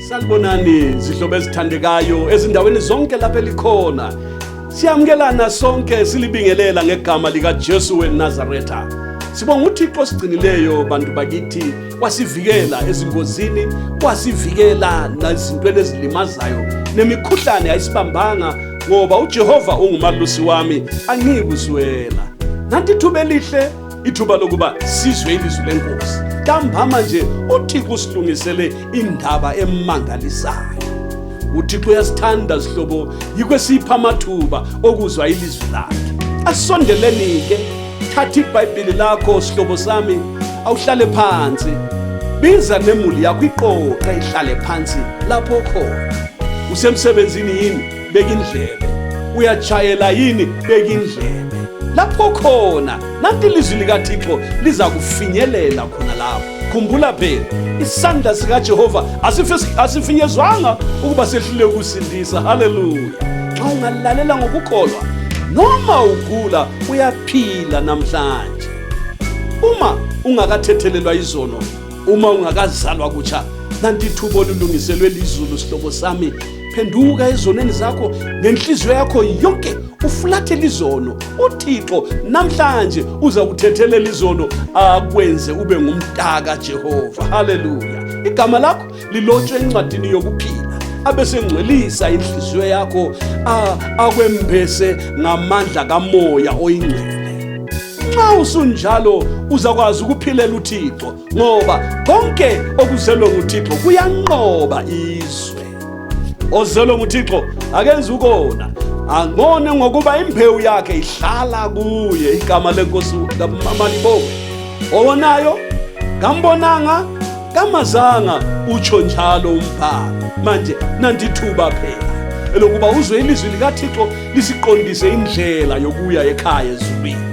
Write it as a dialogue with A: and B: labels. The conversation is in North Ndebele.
A: salibonani zihlobo ezithandekayo ezindaweni zonke lapho elikhona siyamukelana sonke silibingelela ngegama likajesu wenazaretha sibonga uthixo osigcinileyo bantu bakithi wasivikela ezingozini wasivikela nazintweni ezilimazayo nemikhuhlane ayisibambanga ngoba ujehova ungumalusi wami angiyikuzwela nanti ithuba elihle ithuba lokuba sizwe ilizwi lenkosi ntambama nje uthixo usilungisele indaba emangalisayo uthixo uyasithanda zihlobo yikho esipha amathuba okuzwa ilizwi lakhe asondeleni-ke thatha ibhayibhili lakho sihlobo sami awuhlale phansi biza nemuli yakho iqoqe ihlale phansi lapho khona usemsebenzini yini beka indlebe uyatshayela yini beka indlebe lapho khona nanti ilizwi likathixo liza kufinyelela khona lapho khumbula phela isandla sikajehova asifinyezwanga ukuba sehlule ukusindisa haleluya xa ungalalela ngokukholwa noma ugula uyaphila namhlanje uma ungakathethelelwa izono uma ungakazalwa kutsha nanti ithuba olulungiselwe lizulu sihlobo sami phenduka ezonweni zakho ngenhliziyo yakho yonke ufulathele izono uthixo namhlanje uza kuthethelela izono akwenze ube ngumntaka jehova haleluya igama lakho lilotshwe encwadini yokuphila abesengcwelisa inhliziyo yakho akwembese ngamandla kamoya oyingcwele nxa usunjalo uzakwazi ukuphilela uthixo ngoba konke okuzelwe nguthixo kuyanqoba izwe ozelwe nguthixo akenzi ukona angone ngokuba imbewu yakhe ihlala kuye igama lenkosi kamaliboke owonayo kambonanga kamazanga utsho njalo umbhalo manje nandithuba phela elokuba uzwe ilizwi likathixo lisiqondise indlela yokuya ekhaya ezulwini